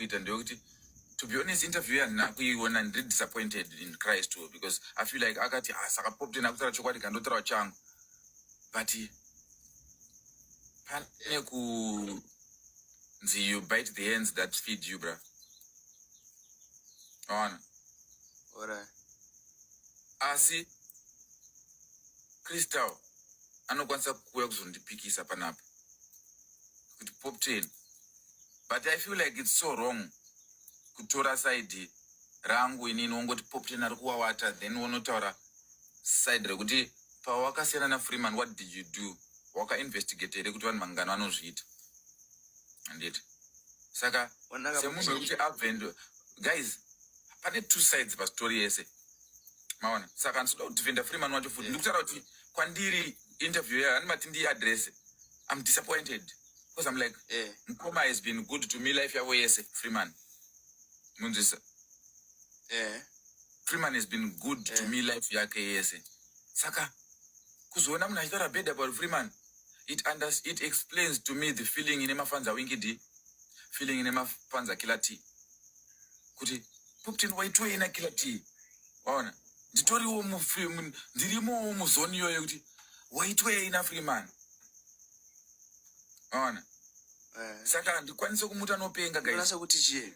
kuita ndeyekuti to be honest interview yandina kuiona ndiri disappointed in christ too because i feel like akati ah, saka popte nakutaura chokwadi kandotaura changu but pane kunzi you bite the hands that feed you bra aona Alright. Asi Crystal anokwanisa kuuya kuzondipikisa panapa kuti pop ten but i feel like it's so wrong kutora side rangu inini wongoti pop ten ari kuwawata then wonotaura side rekuti pawakasiyana nafreeman what did you do wakainvestigate here kuti vanhu vangani vanozviita handiti saka semunhu wekuti abvendo guys pane two sides pastory yese maona saka ndinoda kudefenda freeman wacho futi ndikutaura kuti kwandiri interview yayo andimati ndiye adrese i'm disappointed because i'm like yeah. mkoma has been good to me life yavo yese freeman munzwisa yeah. freeman has been good yeah. to me life yake yese saka kuzoona munhu achitaura bed about freeman it, it explains to me the feeling ine mafanza winkidi feeling ine mafanza killer t kuti popten waitoi ena kila tii waona nditoriwo mufilm ndirimowo muzoni iyoyo kuti waitoi ena free man waona eh. saka handikwanise kumuti anopenga gaisa kuti chii